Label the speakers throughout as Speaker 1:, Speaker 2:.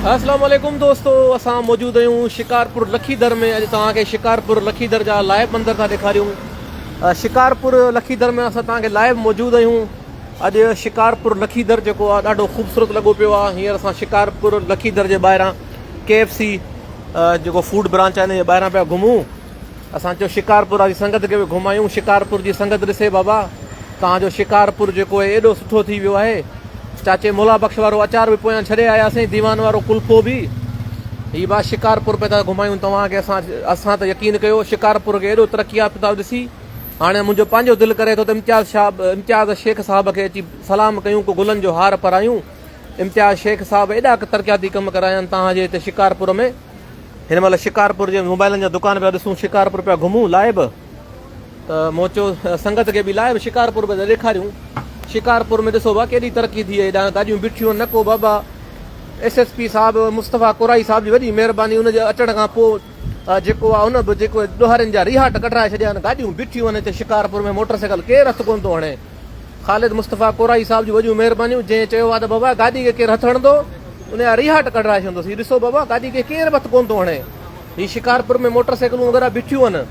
Speaker 1: اسلام عليڪم دوستو اسان موجود آهيون شڪارپور لکيدر ۾ اڄ توهان کي شڪارپور لکيدر جا لائيو مندر ٿا ڏيکاريون شڪارپور لکيدر ۾ اسان توهان کي لائيو موجود آهيون اڄ شڪارپور لکيدر جيڪو آ ڏاڍو خوبصورت لڳو پيو آ هينئر اسان شڪارپور لکيدر جي ٻاهران ڪي ايف سي جيڪو فوڊ برانچ آ ان جي ٻاهران پيا گهمون اسان چيو شڪارپور واري سنگت کي به گهمايون، شڪارپور جي سنگت ڏسي بابا توهان جو شڪارپور جيڪو اهي ايڏو سٺو ٿي ويو آهي، چاچي مولا بخش وارو اچار به پويان ڇڏي آياسين، ديوان وارو ڪلفو به، هي با شڪارپور پئي ٿا گهمايون توهان کي اسان اسان ته يقين ڪيو شڪارپور کي ايڏو ترقي يافته ڏسي، هاڻي منهنجو پنهنجو دل ڪري ٿو ته امتياز شاب امتياز شيخ صاحب کي اچي سلام ڪيون ڪو گلن جو هار پرايون، امتياز شيخ صاحب ايڏا ترقياتي ڪم ڪرايا آهن توهان جي هتي شڪارپور ۾. هن مهل شڪارپور جي موبائلن جا دڪان پيا ڏسون شڪارپور پيا گهمون لائيو ته مون چيو سنگت کي به لائيو شڪارپور پيا ڏيکاريون شڪارپور ۾ ڏسو بابا ڪيڏي ترقي ٿي هيڏا گاڏيون بيٺيون نه ڪو بابا ايس ايس پي صاحب مصطفيٰ قرائي صاحب جي وڏي مهرباني ان جي اچڻ کان پوء جيڪو آ ان به جيڪو ڏوهارين جا ريهاٽ ڪڍرائي ڇڏيا آهن گاڏيون بيٺيون آهن هتي شڪارپور ۾ موٽر سائيڪل ڪير هٿ ڪونه ٿو هڻي خالد مصطفيٰ ڪورائي صاحب جون وڏيون مهربانيون جنهن چيو آهي ته بابا گاڏي کي ڪير هٿ هڻندو ان جا ريهاٽ ڪڍرائي ڇڏيندس هي ڏسو بابا گاڏي کي ڪير به هٿ ڪونه ٿو هڻي هي شڪارپور ۾ موٽر سائيڪلون وغيره بيٺيون آهن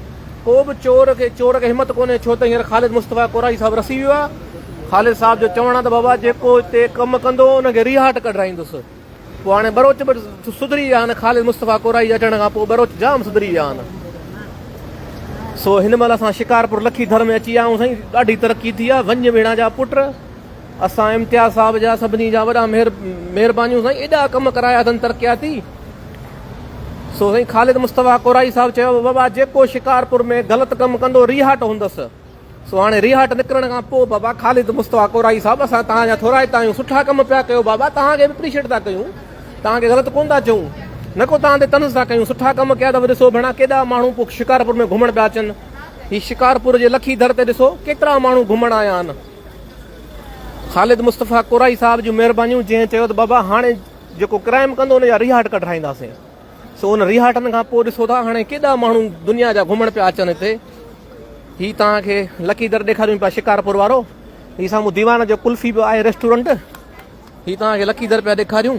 Speaker 1: ڪو به چور کي چور کي همت ڪونهي ڇو ته هينئر خالد مصطفيٰ ڪورائي صاحب رسي ويو آهي خالد صاحب جو چوڻ آهي ته بابا جيڪو هتي ڪم ڪندو ان کي ريهاٽ ڪڍرائيندس. پوء هاڻي ٻروچ به سڌري ويا آهن، خالد مصطفيٰ ڪورائي جي اچڻ کان پوء ٻروچ جام سڌري ويا آهن. سو هن مهل اسان شڪارپور لکي ٿر ۾ اچي ويا آهيون سائين، ڏاڍي ترقي ٿي آهي، ونج ميڻا جا پٽ اسان امتياز صاحب جا سڀني جا وڏا مهر مهربانيون سائين، ايڏا ڪم ڪرايا اٿن ترقياتي. سو سائين خالد مصطفيٰ ڪورائي صاحب چيو بابا جيڪو شڪارپور ۾ غلط ڪم ڪندو ريهاٽ هوندس. سو هاڻي ريهاٽ نڪرڻ کان پوء بابا خالد مصطفيٰ ڪورائي صاحب اسان توهان جا ٿورائتا آهيون سٺا ڪم پيا ڪيو بابا توهان کي به اپريشيٽ ٿا ڪيون توهان کي غلط ڪونه ٿا چئون نه ڪو توهان تي طنز ٿا ڪيون سٺا ڪم ڪيا اٿو ڏسو ڀيڻا ڪيڏا ماڻهو پوء شڪارپور ۾ گهمڻ پيا اچن هي شڪارپور جي لکي در تي ڏسو ڪيترا ماڻهو گهمڻ آيا آهن خالد مصطفيٰ ڪورائي صاحب جون مهربانيون جنهن چيو ته بابا هاڻي جيڪو ڪرائم ڪندو ان جا ريهاٽ ڪڍرائينداسين سو ان رهاٽن کان پوء ڏسو ٿا هاڻي ڪيڏا ماڻهو دنيا جا گهمڻ پيا اچن هتي هي توهان کي لڪي در ڏيکاريون پيا شڪارپور وارو هي سامهون ديوان جو ڪلفي به آهي ريسٽورنٽ هي توهان کي لڪي در پيا ڏيکاريون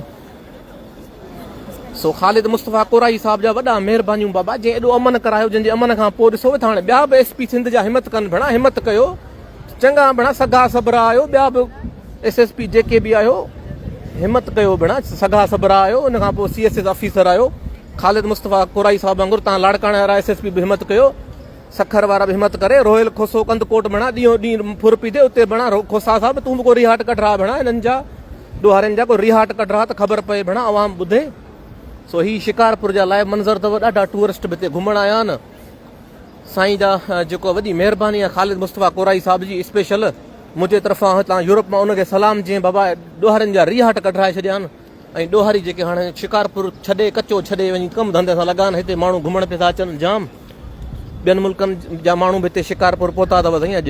Speaker 1: سو خالد مصطفيٰ ڪورائي صاحب جا وڏا مهربانيون بابا جنهن ايڏو امن ڪرايو جنهن جي امن کان پوء ڏسو ٿا هاڻي ٻيا به ايس پي سنڌ جا همت ڪن ڀيڻا همت ڪيو چڱا ڀيڻا سگها سبرا آهيو ٻيا به ايس ايس پي جيڪي به آهيو همت ڪيو ڀيڻا سگها سبرا آهيو ان کان پوء سي ايس ايس آفيسر آهيو خالد مصطفيٰ ڪورائي صاحب وانگر تان لاڙڪاڻي وارا ايس ايس پي به همت ڪيو سکر وارا به همت ڪري رويل کوسو ڪند ڪوٽ ڀيڻا ڏينهو ڏينهن ڦر پي ٿي اتي ڀيڻا کوسا صاحب تون به ڪو ريهاٽ ڪڍ رها ڀيڻا هنن جا ڏوهارين جا ڪو ريهاٽ ڪڍ رها ته خبر پئي ڀيڻا عوام ٻڌي سو هي شڪارپور جا لائيو منظر اٿو ڏاڍا ٽوئرسٽ به هتي گهمڻ آيا آهن سائين جا جيڪو وڏي مهرباني آ خالد مصطفيٰ ڪورائي صاحب جي اسپيشل منهنجي طرفان هتان يورپ مان ان کي سلام جنهن بابا ڏوهارين جا ريهاٽ ڪڍرائي ڇڏيا آهن ۽ ڏوهاري جيڪي هاڻي شڪارپور ڇڏي ڪچو ڇڏي وڃي ڪم ڌنڌي سان لڳا آهن هتي ماڻهو گهمڻ پئي ٿا اچن جام ٻين ملڪن جا ماڻهو به هتي شڪارپور پهتا اٿو سائين اڄ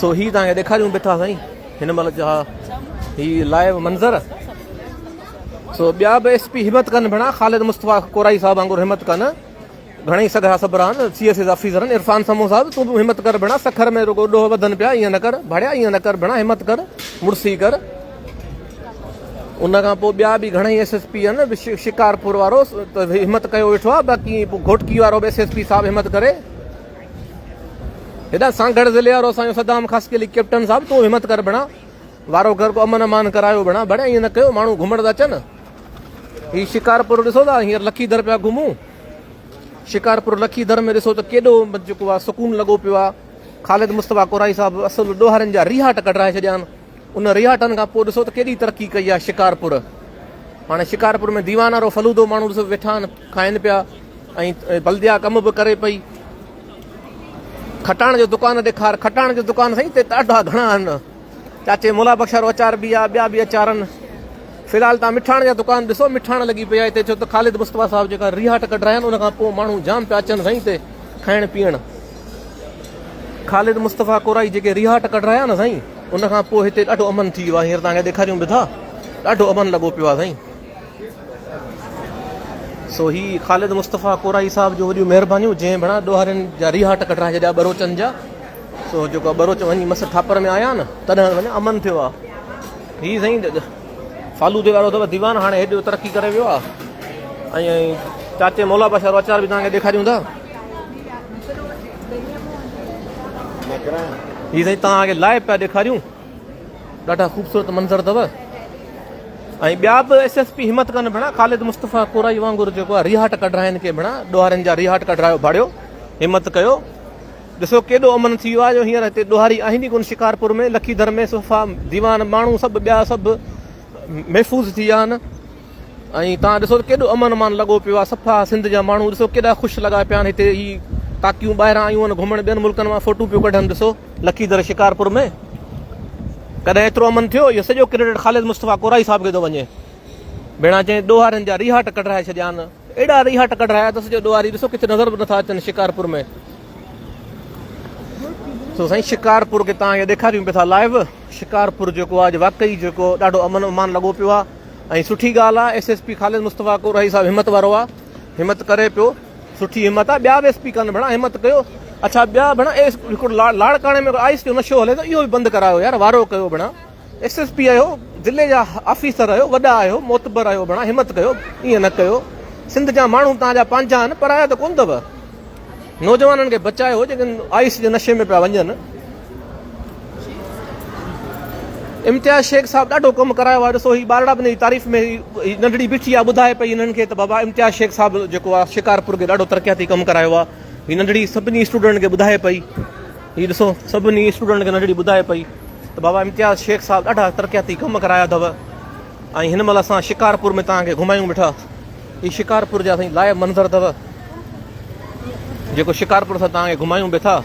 Speaker 1: سو هي توهان کي ڏيکاريون به ٿا سائين هن مهل جا هي لائيو منظر سو ٻيا به ايس پي همت ڪن ڀيڻا خالد مصطفيٰ ڪورائي صاحب وانگر همت ڪن گھڻي سگھرا سبران سي ايس ايس آفيسرن عرفان سمو صاحب تون به همت ڪر ڀيڻا سکر ۾ رڳو ڏوهه وڌن پيا ائين نه ڪر ڀاڙيا ائين نه ڪر ڀيڻا همت ڪر مڙسي ڪر ان کان پوء ٻيا به گھڻي ايس ايس پي آهن شڪارپور وارو همت ڪيو ويٺو آهي باقي گھوٽڪي وارو به ايس ايس پي صاحب همت ڪري هيڏانهن سانگهڙ ضلعي وارو اسان جو صدام خاص ڪلي ڪيپٽن صاحب تون همت ڪر ڀڻا وارو گهر ڪو امن امان ڪرايو ڀڻا ڀڻ ائين نه ڪيو ماڻهو گهمڻ ٿا اچن هي شڪارپور ڏسو ٿا هينئر لکي در پيا گهمون شڪارپور لکي در ۾ ڏسو ته ڪيڏو جيڪو سڪون لڳو پيو آهي خالد مصطفيٰ قرائي صاحب اصل ڏوهارين جا ريهاٽ ڪڍرائي ڇڏيا آهن ان رهاٽن کان پوء ڏسو ته ڪيڏي ترقي ڪئي آهي شڪارپور. هاڻي شڪارپور ۾ ديوانه رو فلودو ماڻهو ڏسو ويٺا آهن کائن پيا ۽ بلديا ڪم به ڪري پئي. کٽاڻ جو دڪان ڏيکار کٽاڻ جو دڪان سائين هتي ڏاڍا گهڻا آهن. چاچي مولا بخش وارو اچار به آهي ٻيا به اچار آهن. في الحال تان مٺاڻ جا دڪان ڏسو مٺاڻ لڳي پئي آهي هتي ڇو ته خالد مصطفيٰ صاحب جيڪا رهاٽ ڪڍرايا آهن ان کان پوء ماڻهو جام پيا اچن سائين هتي کائڻ پيئڻ. خالد مصطفيٰ ڪورائي جيڪي ريهاٽ ڪڍرايا نه سائين ان کان پوء هتي ڏاڍو امن ٿي ويو آهي هينئر توهان کي ڏيکاريون به ٿا ڏاڍو امن لڳو پيو آهي سائين سو هي خالد مصطفيٰ ڪورائي صاحب جو وڏيون مهربانيون جنهن ڀڻا ڏوهارين جا ريهاٽ ڪڍرائي ڇڏيا ٻروچن جا سو جيڪو ٻروچ وڃي مس ٿاپر ۾ آيا نه تڏهن وڃي امن ٿيو آهي هي سائين فالودي وارو اٿو ديوان هاڻي هيڏو ترقي ڪري ويو آهي ۽ چاچي مولا بادشاھ وارو اچار به توهان کي ڏيکاريون ٿا هي سائين توهان کي لائيو پيا ڏيکاريون ڏاڍا خوبصورت منظر اٿو ۽ ٻيا به ايس ايس پي همت ڪن ڀيڻا خالد مصطفيٰ ڪورائي وانگر جيڪو آهي ريهاٽ ڪڍرائن کي ڀيڻا ڏوهارين جا ريهاٽ ڪڍرايو ڀاڙيو همت ڪيو ڏسو ڪيڏو امن ٿي ويو آهي جو هينئر هتي ڏوهاري آهن ئي ڪونه شڪارپور ۾ لکيڌر ۾ صفا ديوان ماڻهو سڀ ٻيا سڀ محفوظ ٿي ويا آهن ۽ تان ڏسو ڪيڏو امن امان لڳو پيو آ صفا سنڌ جا ماڻهو ڏسو ڪيڏا خوش لڳا پيا آهن هتي هي ڪاڪيون ٻاهران آيون آهن گهمڻ ٻين ملڪن مان فوٽو پيو ڪڍن ڏسو لکي در شڪارپور ۾ ڪڏهن ايترو امن ٿيو اهو سڄو ڪريڊٽ خالد مصطفيٰ ڪورائي صاحب کي ٿو وڃي ڀيڻا چئي ڏوهارين جا ريهاٽ ڪڍرائي ڇڏيا آهن ايڏا ريها ٽڪڙ هنيا اٿس جو ڏوهاري ڏسو ڪٿي نظر به نٿا اچن شڪارپور ۾ سو سائين شڪارپور کي تان ڏيکاريون پيا ٿا لائيو شڪارپور جيڪو آج واقعي جيڪو ڏاڍو امن امان لڳو پيو آ ۽ سٺي ڳالهه آ S S P Khalid Mustafa ڪو رهي صاحب همت وارو آ همت ڪري پيو سٺي همت آ ٻيا به ايس پي ڪن ڀڻا همت ڪيو اڇا ٻيا ڀڻا ايس لاڙڪاڻي ۾ آئس جو نشو هلي ته اهو به بند ڪرايو يار وارو ڪيو ڀڻا ايس ايس پي آهيو ضلعي جا آفيسر آهيو وڏا آهيو معتبر آهيو ڀڻا همت ڪيو ائين نه ڪيو سنڌ جا ماڻهو توهان جا پنهنجا آهن پرايا ته ڪون اٿو نوجوانن کي بچايو جيڪي آئيس جي نشي ۾ پيا وڃن امتياز شيخ صاحب ڏاڍو ڪم ڪرايو آهي ڏسو هي ٻارڙا بني جي تعريف ۾ هي ننڍڙي بيٺي آهي ٻڌائي پئي هنن کي ته بابا امتياز شيخ صاحب جيڪو آهي شڪارپور کي ڏاڍو ترقياتي ڪم ڪرايو آهي هي ننڍڙي سڀني اسٽوڊنٽن کي ٻڌائي پئي هي ڏسو سڀني اسٽوڊنٽ کي ننڍڙي ٻڌائي پئي ته بابا امتياز شيخ صاحب ڏاڍا ترقياتي ڪم ڪرايا اٿو ۽ هن مهل اسان شڪارپور ۾ توهان کي گهمايون ويٺا هي شڪارپور جا سائين لائب منظر اٿو جيڪو شڪارپور سان توهان کي گهمايون به ٿا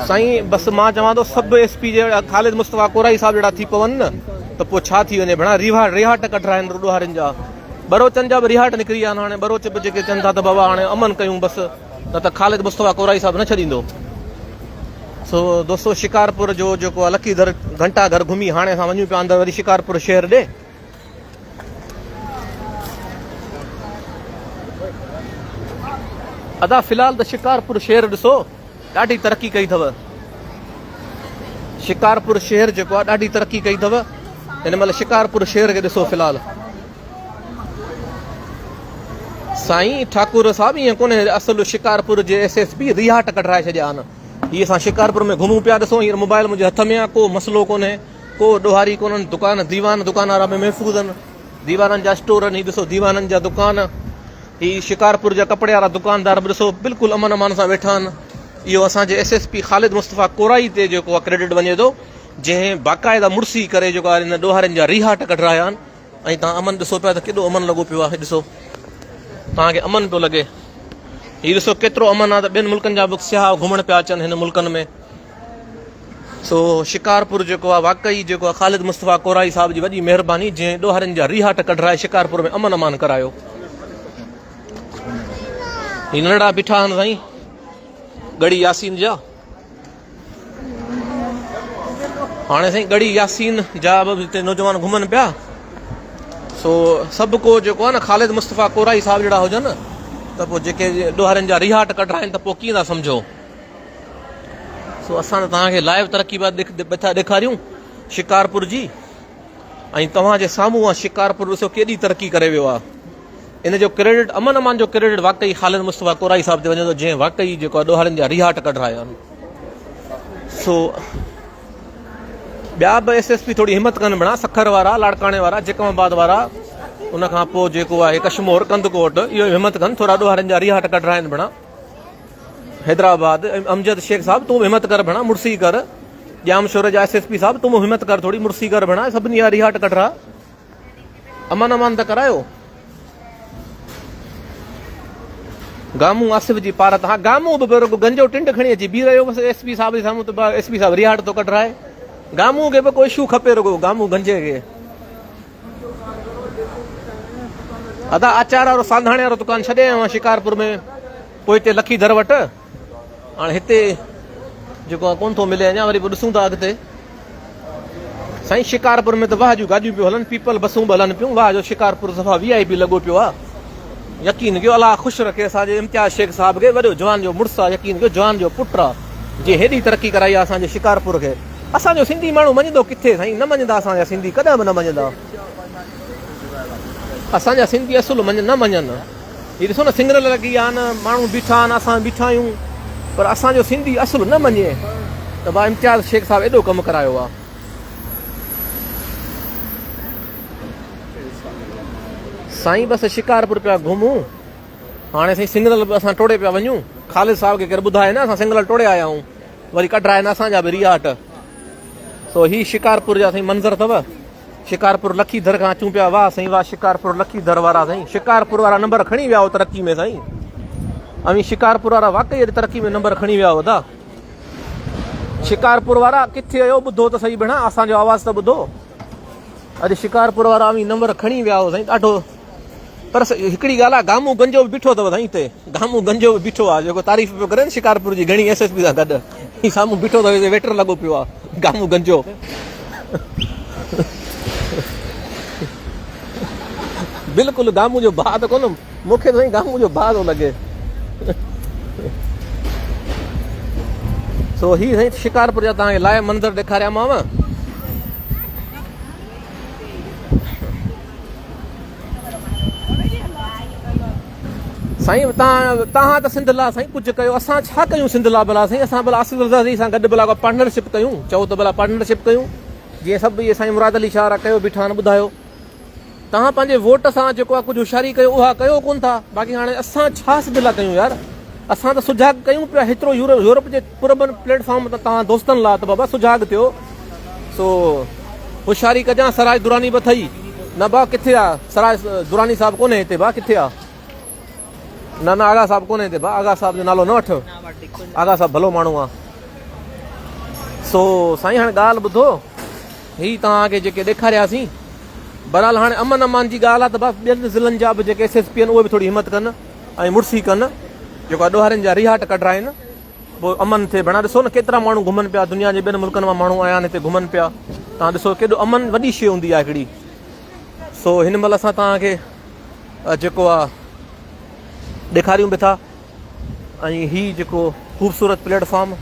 Speaker 1: سائين بس مان چوان ٿو سب ايس پي جهڙا خالد مصطفيٰ ڪورائي صاحب جهڙا ٿي پون نه ته پوء ڇا ٿي وڃي ڀيڻا ريها ريها ٽڪ ٽھرائن رڏوهارين جا ٻروچن جا به رهاٽ نڪري ويا آهن هاڻي ٻروچ به جيڪي چون ٿا ته بابا هاڻي امن ڪيون بس نه ته خالد مصطفيٰ ڪورائي صاحب نه ڇڏيندو سو دوستو شڪارپور جو جيڪو آهي لکي در گهنٽا گهر گهمي هاڻي اسان وڃون پيا اندر وري شڪارپور شهر ڏي ادا في الحال ته شڪارپور شهر ڏسو ڏاڍي ترقي ڪئي اٿو شڪارپور شهر جيڪو آ ڏاڍي ترقي ڪئي اٿو هن مهل شڪارپور شهر کي ڏسو في الحال سائين ٺاڪر صاحب ائين ڪونهي اصل شڪارپور جي ايس ايس پي رياٽ ڪڍرائي ڇڏيا آهن هي اسان شڪارپور ۾ گهمون پيا ڏسو هينئر موبائل منهنجي هٿ ۾ آ ڪو مسئلو ڪونهي ڪو ڏوهاري ڪونهن دڪان ديوان دڪان وارا به محفوظ آهن ديوانن جا اسٽور آهن هي ڏسو ديوانن جا دڪان هي شڪارپور جا ڪپڙي وارا دڪاندار به ڏسو بلڪل امن امان سان ويٺا آهن اهو اسان جي S S P Khalid Mustafa Korai تي جيڪو آهي ڪريڊٽ وڃي ٿو جنهن باقاعده مڙسي ڪري جيڪو آهي هن ڏوهارين جا ريهاٽ ڪڍرايا آهن ۽ تان امن ڏسو پيا ته ڪيڏو امن لڳو پيو آهي ڏسو تان کي امن پيو لڳي هي ڏسو ڪيترو امن آهي ته ٻين ملڪن جا به سياح گهمڻ پيا اچن هن ملڪن ۾ سو شڪارپور جيڪو آ واقعي جيڪو آ خالد مصطفيٰ ڪورائي صاحب جي وڏي مهرباني جنهن ڏوهارين جا ريهاٽ ڪڍرائي شڪارپور ۾ امن امان ڪرايو هي ننڍڙا بيٺا آهن سائين ڳڙي ياسين جا هاڻي سائين ڳڙي ياسين جا به هتي نوجوان گهمن پيا سو سڀ کو جيڪو آ نه خالد مصطفيٰ ڪورائي صاحب جهڙا هجن ته پوء جيڪي ڏوهارين جا ريهاٽ ڪڍرائن ته پوء ڪيئن ٿا سمجهو سو اسان ته توهان کي لائيو ترقي بعد ڏٿا ڏيکاريون شڪارپور جي ۽ توهان جي سامهون آ شڪارپور ڏسو ڪيڏي ترقي ڪري ويو آ ان جو ڪريڊٽ امن امان جو ڪريڊٽ واقعي خالد مصطفيٰ ڪورائي صاحب تي وڃي ٿو جنهن واقعي جيڪو آ ڏوهارين جا ريهاٽ ڪڍرايا آهن سو ٻيا به ايس ايس پي ٿوري همت ڪن بڻا سکر وارا لاڙڪاڻي وارا جيڪم آباد وارا ان کان پوء جيڪو آهي ڪشمور ڪندڪوٽ اهو همت ڪن ٿورا ڏوهارين جا ريهاٽ ڪڍرائن بڻا حيدرآباد، امجد شيخ صاحب تون به همت ڪر ڀيڻا مڙسي ڪر، ڄام شور جا ايس ايس پي صاحب تون به همت ڪر ٿوري مڙسي ڪر ڀيڻا سڀني جا ريهاٽ ڪڍرا امان امان ته ڪرايو گامون آصف جي پارت ها گامون به رڳو گنجو ٽنڊ کڻي اچي بي رهيو بس ايس پي صاحب جي سامهون ته ايس پي صاحب ريهاٽ ٿو ڪڍرائي گامون کي به ڪو شو کپي رڳو گامون گنجي کي ادا آچار وارو سانڌاڻي وارو دڪان ڇڏي آيو آهيان شڪارپور ۾ پوء هتي لکي در وٽ هاڻي هتي جيڪو آ ڪون ٿو ملي اڃا وري به ڏسون ٿا اڳتي سائين شڪارپور ۾ ته واهه جون گاڏيون پيو هلن پيپل بسون به هلن پيون واهه جو شڪارپور صفا وي آئي پي لڳو پيو آ يقين ڪيو الله خوش رکي اسان جي امتياز شيخ صاحب کي وڏو جوان جو مڙس آ يقين ڪيو جوان جو پٽ آ جي هيڏي ترقي ڪرائي آ اسان جي شڪارپور کي اسان جو سنڌي ماڻهو مڃيندو ڪٿي سائين نه مڃيندا اسان جا سنڌي ڪڏهن به نه مڃيندا اسان جا سنڌي اصل مڃ نه مڃن هي ڏسو نه سنگرل لڳي آ نه ماڻهو بيٺا آهن اسان بيٺا آهيون پر اسان جو سنڌي اصل نه مڃي ته با امتياز شيخ صاحب ايڏو ڪم ڪرايو آ سائين بس شڪارپور پيا گهمون هاڻي سائين سنگرل اسان ٽوڙي پيا وڃون خالد صاحب کي ڪير ٻڌائي نه اسان سنگرل ٽوڙي آيا آهيون وري ڪڍرا آهن اسان جا به رياٽ سو هي شڪارپور جا سائين منظر اٿو شڪارپور لکي در کان اچون پيا واهه سائين واهه شڪارپور لکي در وارا سائين شڪارپور وارا نمبر کڻي ويا ترقي ۾ سائين اوهين شڪارپور وارا واقعي اڄ ترقي ۾ نمبر کڻي ويا ادا شڪارپور وارا ڪٿي آيو ٻڌو ته سائين ڀيڻا اسان جو آواز ته ٻڌو اڄ شڪارپور وارا اوهين نمبر کڻي ويا سائين ڏاڍو پر هڪڙي ڳالهه آهي گامو گنجو به بيٺو اٿو سائين هتي گامو گنجو به بيٺو آهي جيڪو تعريف پيو ڪري شڪارپور جي گهڻي ايس ايس پي سان گڏ سامهون بيٺو اٿو هتي ويٽر لڳو پيو آهي گامو گنجو بلڪل گامو جو ڀاء ته ڪونه مون کي سائين گامو جو ڀاء ٿو لڳي سو هي سائين شڪارپور جا تان لاء منظر ڏيکاريا ماو سائين توهان ته سنڌ لا سائين ڪجهه ڪيو اسان ڇا ڪيون سنڌ لا بلا سائين اسان بلا آصف رضا سان گڏ بلا پارٽنرشپ ڪيون چئو ته بلا پارٽنرشپ ڪيون جي سڀ اهي سائين مراد علي شاهه را ڪيو بيٺا آهن ٻڌايو توهان پنهنجي ووٽ سان جيڪو آ ڪجهه هوشياري ڪيو اها ڪيو ڪون ٿا باقي هاڻي اسان ڇا سنڌ لا ڪيون يار اسان ته سجاڳ ڪيون پيا هيترو يورپ جي پرامن پليٽ فارم تان توهان دوستن لا ته بابا سجاڳ ٿيو سو هوشياري ڪجان سراج دراني به اٿئي نه با ڪٿي آ سراج دراني صاحب ڪونهي هتي با ڪٿي آ نه نه آغا صاحب ڪونهي هتي با آغا صاحب جو نالو نه وٺ آغا صاحب ڀلو ماڻهو آ سو سائين هاڻي ڳالهه ٻڌو هي توهان کي جيڪي ڏيکارياسين برحال هاڻي امن امان جي ڳالهه آ ته بس ٻين ضلعن جا به جيڪي ايس ايس پي آهن اهي به ٿوري همت ڪن ۽ مڙسي ڪن جيڪو اڏوهارين جا ريهاٽ ڪڍرائين پوء امن ٿئي ڀيڻا ڏسو نه ڪيترا ماڻهو گهمن پيا دنيا جي ٻين ملڪن مان ماڻهو آيا آهن هتي گهمن پيا تان ڏسو ڪيڏو امن وڏي شي هوندي آهي هڪڙي سو هن مهل اسان تان کي جيڪو آ ڏيکاريون به ٿا ۽ هي جيڪو خوبصورت پليٽ فارم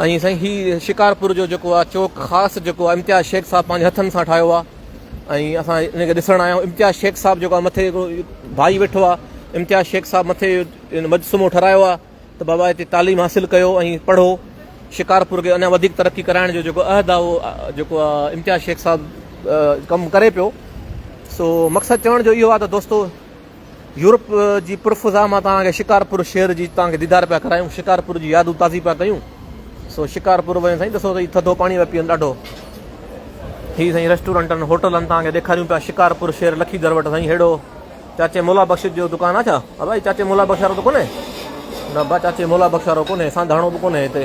Speaker 1: ۽ سائين هي شڪارپور جو جيڪو آ چوڪ خاص جيڪو امتياز شيخ صاحب پنهنجي هٿن سان ٺاهيو آ ۽ اسان ان کي ڏسڻ آيا آهيون امتياز شيخ صاحب جيڪو آهي مٿي ڀائي ويٺو آهي امتياز شيخ صاحب مٿي مجسمو ٺهرايو آهي ته بابا هتي تعليم حاصل ڪيو ۽ پڙهو شڪارپور کي اڃا وڌيڪ ترقي ڪرائڻ جو جيڪو عهد آهي اهو جيڪو آهي امتياز شيخ صاحب ڪم ڪري پيو سو مقصد چوڻ جو اهو آهي ته دوستو يورپ جي پر فضا مان توهان کي شڪارپور شهر جي توهان کي ديدار پيا ڪرايون شڪارپور جي يادون تازي پيا ڪيون سو شڪارپور وڃي سائين ڏسو سائين ٿڌو پاڻي پيا پيئن ڏاڍو هي سائين ريسٽورنٽن هوٽلن توهان کي ڏيکاريون پيا شڪارپور شهر لکي در وٽ سائين هيڙو چاچي مولا بخش جو دڪان آ ڇا ابا چاچي مولا بخش وارو ته ڪونهي نه با چاچي مولا بخش وارو ڪونهي سانڌاڻو به ڪونهي هتي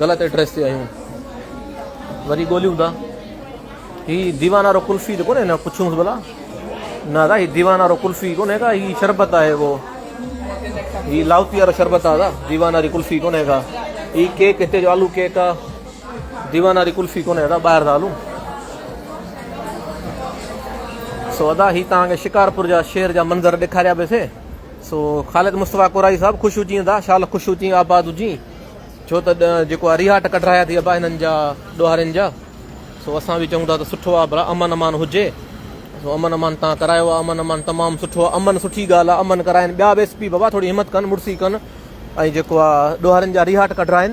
Speaker 1: غلط ايڊريس تي آهيون وري ڳوليون ٿا هي ديوان وارو قلفي ته ڪونهي نه پڇيونس ڀلا نه دا هي ديوان وارو قلفي ڪونهي ڪا هي شربت آهي وہ هي لاوتي وارو شربت آهي دا ديوان واري قلفي ڪونهي ڪا هي ڪيڪ هتي جو آلو ڪيڪ آهي ديوان واري قلفي ڪونهي دا ٻاهر دا آلو سو ادا هي تان کي شڪارپور جا شهر جا منظر ڏيکاريا به سي سو خالد مصطفيٰ قرائي صاحب خوش هجين ادا شال خوش هجين آباد هجين ڇو ته جيڪو ارياٽ ڪڍرايا ٿي ابا هنن جا ڏوهارين جا سو اسان به چئون ٿا ته سٺو آ برا امن امان هجي سو امن امان تان ڪرايو آ امن امان تمام سٺو آ امن سٺي ڳالهه آ امن ڪرائن ٻيا به اس پي بابا ٿوري همت ڪن مڙسي ڪن ۽ جيڪو آ ڏوهارين جا ريهاٽ ڪڍرائن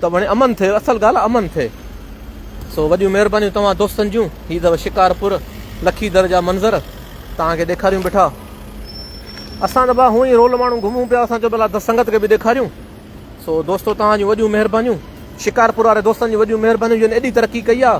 Speaker 1: ته وڻي امن ٿي اصل ڳالهه امن ٿي سو وڏيون مهربانيون توهان دوستن جون هي ته شڪارپور لکي در جا منظر توهان کي ڏيکاريون بيٺا اسان ته ڀا هونء ئي رول ماڻهو گهمون پيا، اسان چيو ڀلا ته سنگت کي به ڏيکاريون. سو دوستو توهان جون وڏيون مهربانيون. شڪارپور واري دوستن جون وڏيون مهربانيون جن ايڏي ترقي ڪئي آ.